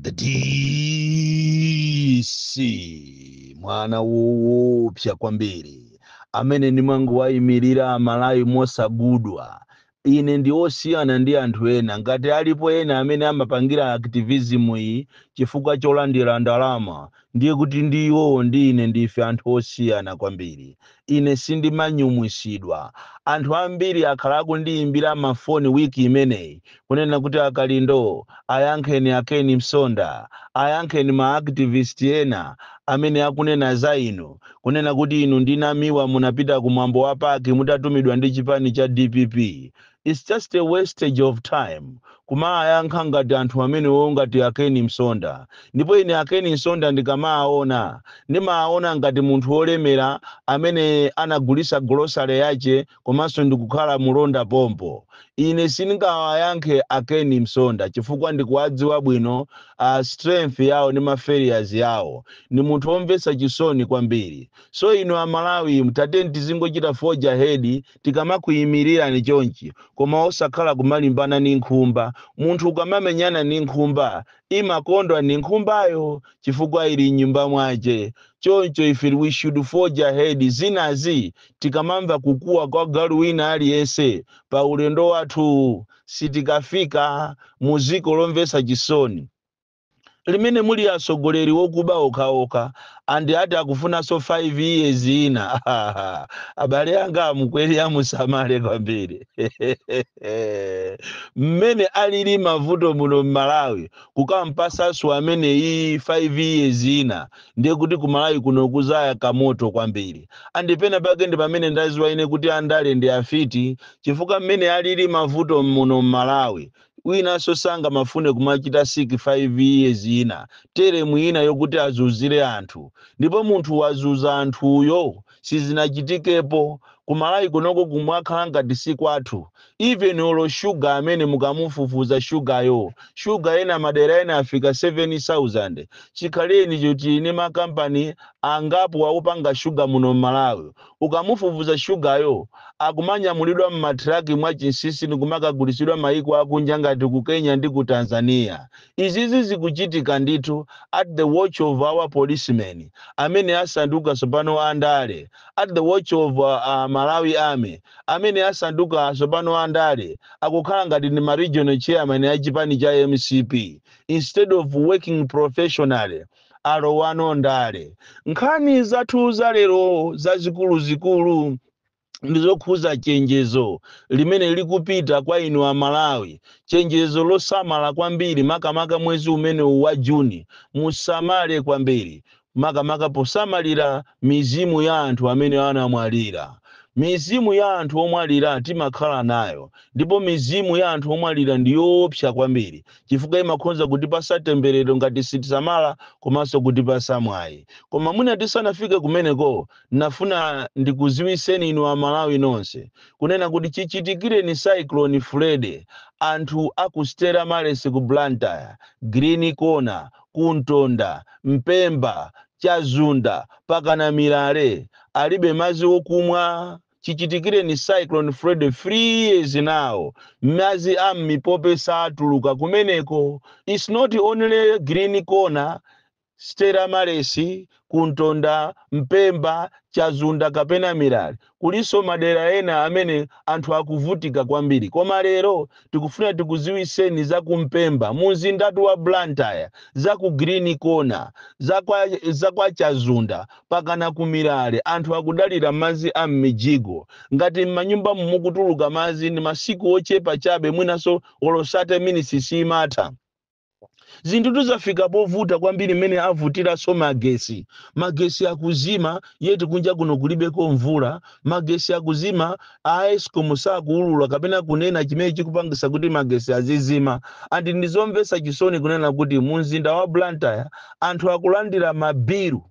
the dc mwana woopsa kwambiri amene ndimangowayimirira amalawi mosagudwa ine ndi osiyana ndi anthu ena ngati alipo ena amene amapangira activism iyi chifukwa cholandira ndalama ndiye kuti ndi iwowo ndi ine ndife anthu osiyana kwambiri Ine sindimanyumwisidwa. Anthu ambiri akhala akundiyimbira mafoni week imeneyi kunena kuti a Kalindo, ayankheni a Ken Msonda, ayankheni ma activist ena amene akunena za inu kunena kuti inu ndi Namiwa munapita ku mwambo wa pac mutatumidwa ndi chipani cha dpp. Its just a wastage of time kumawayankha ngati anthu amenewo ngati a Ken Msonda ndipo ine a Ken Msonda ndikamawaona ndimawaona ngati munthu wolemera amene anagulitsa grocery yache komanso ndikukhala mulonda pompo. Ine sindingawayankhe a Ken Msonda chifukwa ndikuwadziwa bwino strength yawo ndi ma failures yawo. Ndi munthu womvetsa chisoni kwambiri. So inu a Malawi tatiyeni tizingochita forge ahead tikamakuimirirani chonchi koma osakhala kumalimbana ndi nkhumba. Munthu ukamamenyana ndi nkhumba imakondwa ndi nkhumbayo chifukwa ili m'nyumba mwache. Choncho ife we should forge ahead zinazi tikamamva kukuwa kwa galu wina aliyense pa ulendo wathu sitikafika mu dziko lomvetsa chisoni. limene muli atsogoleri okuba okhaokha and ati akufunanso 5 years ina abale anga a Mkweri musamale kwambiri mmene alili mavuto muno mmalawi kukampasanso ameneyi 5 years ina ndiye kuti kumalawi kuno kuzayaka moto kwambiri and penapake ndi pamene ndaziwa ine kuti andale ndi afiti chifukwa mmene alili mavuto muno mmalawi Winanso sangamafune kumachita seek 5 years ina, term ina yokuti azuzire anthu. Ndipo munthu wazuza anthuyo sizinachitikepo. Ku Malawi kunoko kumakhala ngati si kwathu. Even olo sugar amene mukamufufuza sugar yo, sugar ena madera ena afika 7,000. Chikhalirenicho tili ndi ma company angapo akupanga sugar muno m'Malawi. ukamufufuza sugaryo akumanyamulidwa mma truck mwa chinsisi ndikumakagulitsidwa maiko akunja ngati ku Kenya ndi ku Tanzania. Izizi zikuchitika ndithu at the watch of our policemen amene asanduka tsopano a ndale, at the watch of a Malawi army amene asanduka tsopano a ndale akukhala ngati ndi ma regional chairman a chipani cha mcp instead of working professionally. alowano ndale. Nkhani zathu za lero zazikuluzikulu ndi zokhuza chenjezo limene likupita kwa inu a Malawi, chenjezo losamala kwambiri makamaka mwezi umenewu wa June. Musamale kwambiri makamaka posamalira mizimu ya anthu amene anamwalira. Mizimu ya anthu omwalira timakhala nayo ndipo mizimu ya anthu omwalira ndi yoopsa kwambiri. chifukwa imakhonza kutipasa temberero ngati sitisamala komanso kutipasa mwayi. Koma mwina tisanafike kumeneko nafuna ndikuziwiseni inu a Malawi nonse kunena kuti chichitikireni Cyclone Freddy anthu a ku Stella Maris ku Blantyre, Green Corner, ku Ntonda, Mpemba, Chazunda pakana Milale alibe madzi okumwa, Chichitikireni Cyclone Freddy 3 years now madzi a m'mipope saatuluka kumeneko. It's not only Green Corner, Stella Maris, ku Ntonda, Mpemba, Chazunda kapena Milale. Kulinso madera ena amene anthu akuvutika kwambiri. Koma lero tikufuna tikuziwiseni za ku Mpemba mu mzindatu wa Blantyre, za ku Green Corner, za kwa Chazunda pakana ku Milale anthu akudalira madzi a m'mijigo. Ngati m'manyumbamu mukutuluka madzi ndi masiku ochepa chabe mwinanso olo 30 minitsi simatha. zinthutu zafika povuta kwambiri mmene avutiranso magesi magesi akuzima yeti kunja kuno kulibeko mvula magesi akuzima a escom sakuulula kapena kunena chimene chikupangisa kuti magesi azizima andi ndizomvesa chisoni kunena kuti mu mzinda wa blantyre anthu akulandira mabilu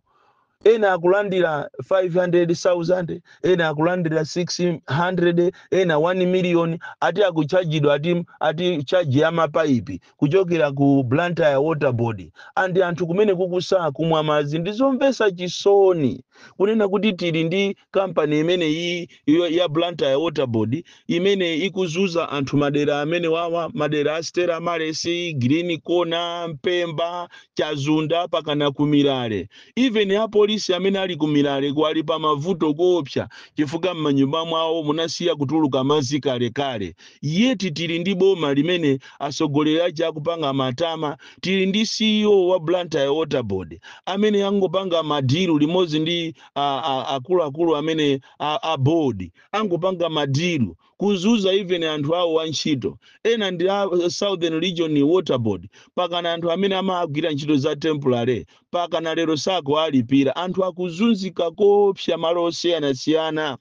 Ena akulandira 500,000, ena akulandira 600, ena 1 million, ati akutchajidwa ati, ati charge ya mapaipi kuchokera ku Blantyre Water Board and anthu kumeneku sakumwa madzi. Ndizomvetsa chisoni kunena kuti tili ndi kampani imene iyi ya Blantyre Water Board imene ikuzuza anthu madera amenewawa madera a Stella Maris, Green Corner, Mpemba, Chazunda pakana ku Milale. Even apolisi amene ali ku Milale ali pa mavuto koopsa chifukwa m'manyumba mwawo munasiya kutuluka madzi kalekale. Yeti tili ndi boma limene atsogoleri aja akupanga matama, tili ndi CEO wa Blantyre Water Board amene angopanga madilu limodzi ndi a- a- akuluakulu amene a, a board angopanga madilu kuzuza even anthu awo antchito ena ndi a southern region water board pakana anthu amene amagwira ntchito za temporary pakana lero sakuwalipira anthu akuzunzika koopsa malo osiyanasiyana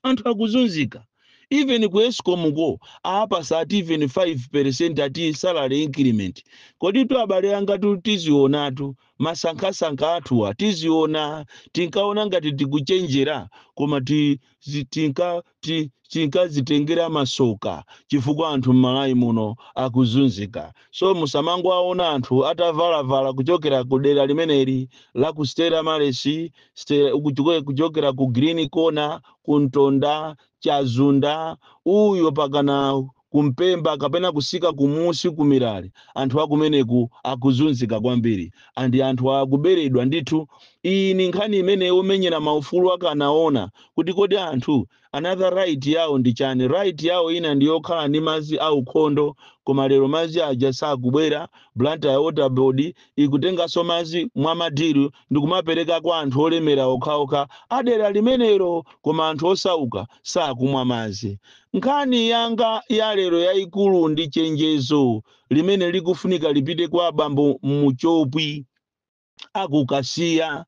anthu akuzunzika even ku ESCOM ko awapatsa ati even 5 percent ati salary increment kodi tu abale anga tu tizionatu masankhasankha athuwa tiziona tinkaona ngati tikuchenjera koma tinkazitengera masoka chifukwa anthu m'malawi muno akuzunzika so musamangowaona anthu atavalavala kuchokera ku dera limeneli la ku Stella Maris kuchokera ku Green Corner ku Ntonda Chadzunda uyo pakana ku Mpemba kapena kutsika kumusi ku Mirale anthu akumeneku akuzunzika kwambiri andi anthu akuberedwa ndithu iyi ni nkhani imene omenyera maufulu akanawona kuti kodi anthu Another right yawo ndi chani? Right yawo ina ndi yokhala ndi madzi a ukhondo koma lero madzi aja sakubwera, Blantyre Water Board ikutenganso madzi mwa ma deal ndikumapereka kwa anthu olemera okhaokha a dera limenelo koma anthu osauka sakumwa madzi. Nkhani yanga ya lero yaikulu ndi chenjezo limene likufunika lipite kwa bambo Muchopwi. a ku Kasiya,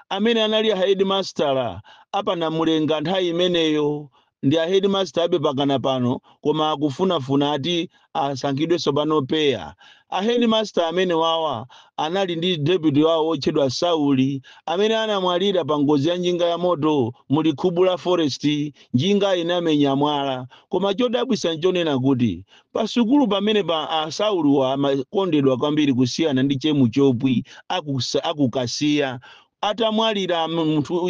amene anali ahedimasitala a pa Namulenga nthawi imeneyo. Ndi ahedimasitalabe pakana pano koma akufunafuna ati asankhidwe tsopano PEA. Ahedimasitala amenewawa anali ndi deputy wawo wotchedwa Sauli amene anamwalira pa ngozi ya njinga yamoto mu Likhubula forest njinga inamenya mwala. Koma chodabwitsa n'chonena kuti Pasukulu pamenepa a Saulowa amakondedwa kwambiri kusiyana ndi Che Muchopwi a ku Kasiya. Atamwalira munthu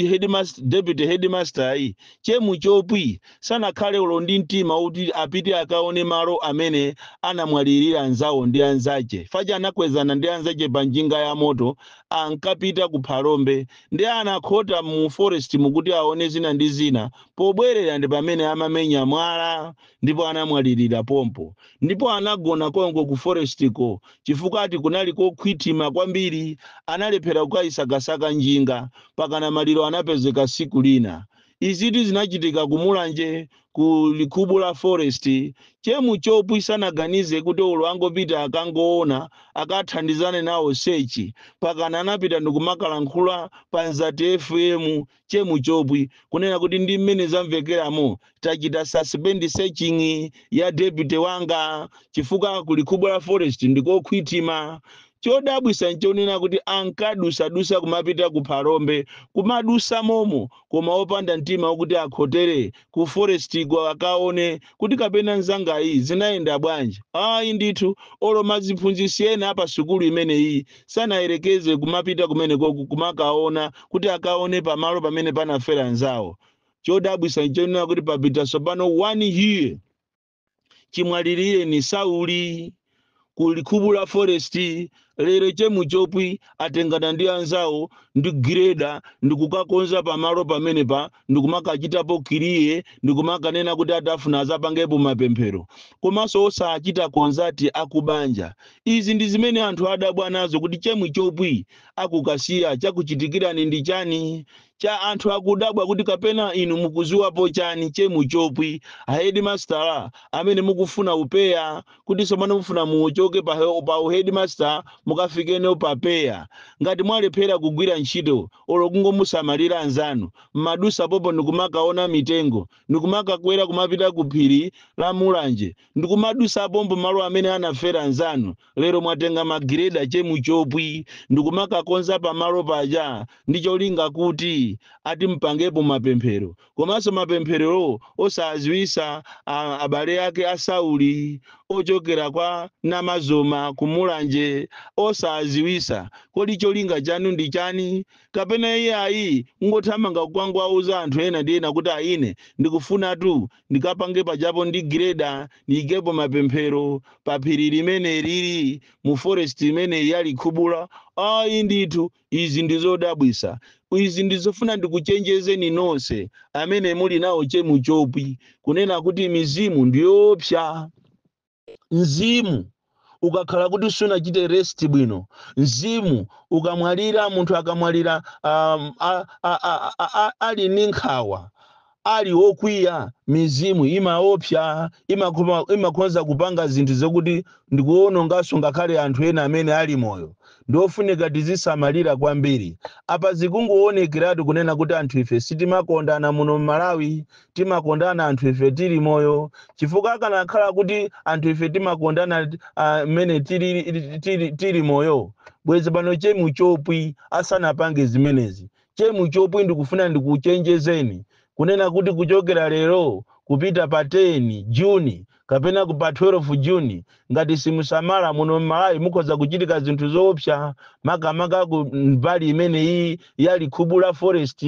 deputy headmaster yi, Che Muchopwi sanakhale olo ndi mtima woti apite akaone malo amene anamwalirira anzawo ndi anzache paja anakwezana ndi anzache pa njinga ya moto ankapita ku Phalombe nde anakhota mu forest mu kuti aone zina ndi zina, pobwerera ndi pamene amamenya mwala ndipo anamwalirira pompo, ndipo anagona konko ku forestiko, chifukwa ati kunali kokhwithima kwambiri, analephera kukaisakasaka njinga, pakana maliro anapezeka tsiku lina. Izitu zinachitika ku Mulanje ku Likhubula Forest. Che Muchopwi sanaganize kuti olo angopita akangowona, akathandizane nawo search, pakana anapita ndikumakalankhula pa Mzati FM Che Muchopwi kunena kuti ndi mmene zamvekeramu tachita suspend searching ya deputy wanga chifukwa ku Likhubula forest ndikokhwitima. Chodabwitsa nchonena kuti ankadusadusa kumapita ku Phalombe kumadusa momo koma opanda mtima okuti akhotere ku forest ko akaone kuti kapena nzangayi zinayenda bwanji. Ayi ndithu olo maziphunzitsi ena apasukulu imeneyi sanayerekeze kumapita kumenekoku kumakaona kuti akaone pamalo pamene panafera anzawo chodabwisa nchonena kuti papita tsopano one year chimwalilireni Sauli ku Likhubula Forest lero che Muchopwi atengana ndi anzawo ndi gireda ndikukakonza pamalo pamenepa ndikumakachitapo kiriye ndikumakanena kuti atafuna azapangepo mapemphero komanso osachita konzati akubanja izi ndi zimene anthu adabwa nazo kuti che Muchopwi akukasiya chakuchitikirani ndi chani cha anthu akudabwa kuti kapena inu mukuziwapo chani che Muchopwi a headmaster amene mukufuna upeya kuti tsopano mufuna muchoke pa, pa uheadmaster mukafike pa upeya ngati mwalephera kugwira ntchito olo kungomusamalira anzanu mmadusa pompo ndikumakaona mitengo ndikumakakwera kumapita ku phiri la mulanje ndikumadusa pompo malo amene anafera anzanu lero mwatenga ma gireda che Muchopwi ndikumakakonza pamalo paja ndi cholinga kuti ati mupangepo mapemphero komanso mapempherowo osaziwisa abale ake a Sauli ochokera kwa Namazoma ku Mulanje osaziwisa kodi cholinga chanu ndi chani kapena iye ayi ngothamanga kukangwauza anthu ena ndi ena kuti a ine ndikufunatu ndikapange pajapo ndi gireda ndiyikepo mapemphero pa phiri limenelili mu forest imeneyi ya Likhubula ayi ndithu Izi ndi zodabwisa. Izi ndi zofuna ndikuchenjezeni nonse amene muli nawo che Muchopwi kunena kuti mizimu ndi yoopsa. Mzimu ukakhala kuti sunachite rest bwino, mzimu ukamwalira, munthu akamwalira um, a, a, a, a, a, ali ndi nkhawa, ali okwiya, mizimu imaopsa, imakhoma, imakhonza kupanga zinthu zokuti ndikuononganso ngakhale anthu ena amene ali moyo. Ndofunika tizisamalira kwambiri. Apa zikungoonekeratu kunena kuti anthu ife sitimakondana muno m'Malawi, timakondana anthu ife tili moyo, chifukwa akanakhala kuti anthu ife timakondana ah, mmene tili, tili, tili moyo, bwezi pano che Muchopwi asanapange zimenezi. Che Muchopwi ndikufuna ndikuchenjezeni kunena kuti kuchokera lero kupita pa 10 June kapena ku pa 12 June ngati simusamala muno m'Malawi mukhoza kuchitika zinthu zoopsa makamaka ku mbali imeneyi ya Likhubula Forest.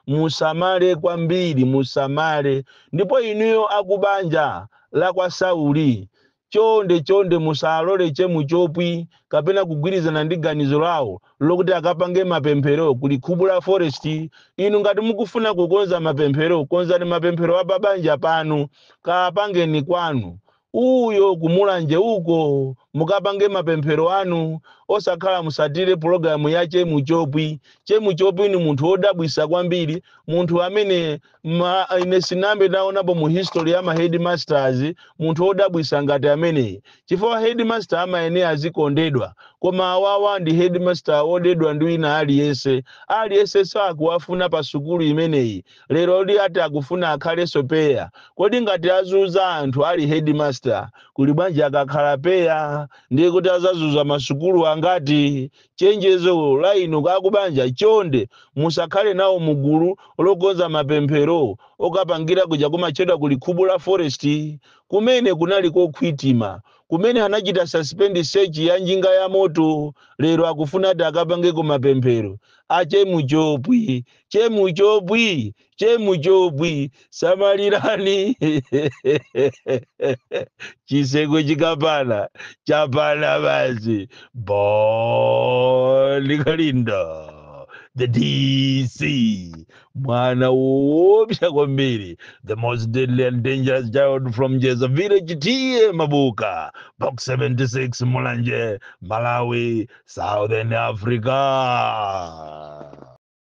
Musamale kwambiri, musamale. Ndipo inuyo akubanja la kwa Sauli Chonde, chonde musalole che Muchopwi kapena kugwirizana ndi ganizo lawo lokuti akapange mapemphero ku Likhubula forest. Inu ngati mukufuna kukonza mapemphero konzani mapemphero a pa banja panu. Kaapangeni kwanu. Uyo ku Mulanje uko mukapange mapemphero anu osakhala musatire pologalamu ya che Muchopwi. Che Muchopwi ni munthu wodabwisa kwambiri, munthu amene ma ine sinambe naonapo mu history ya ma headmasters munthu wodabwisa ngati ameneyi chifukwa headmaster amayenera azikondedwa koma awawa ndi headmaster wodedwa ndi wina aliyense aliyense sakuwafuna pa sukulu imeneyi leroli ati akufuna akhalenso PEA kodi ngati azuza anthu ali headmaster kuli bwanji akakhala PEA ndiye kuti azazuza masukulu angati Chenjezo la inu akubanja chonde musakhale nawo mu gulu lokonza mapemphero okapangira kuja kumatchedwa ku likhubula forest kumene kunali kokhwitima kumene anachita suspend search ya njinga ya moto lero akufuna ati akapangeko mapemphero a che muchopwi che muchopwi che muchopwi samalirani chiseko chikapana chapana basi bon kalindo the dc mwana woopsa kwambiri the most deadly and dangerous child from njedza village T/A mabuka box 76 mulanje malawi southern africa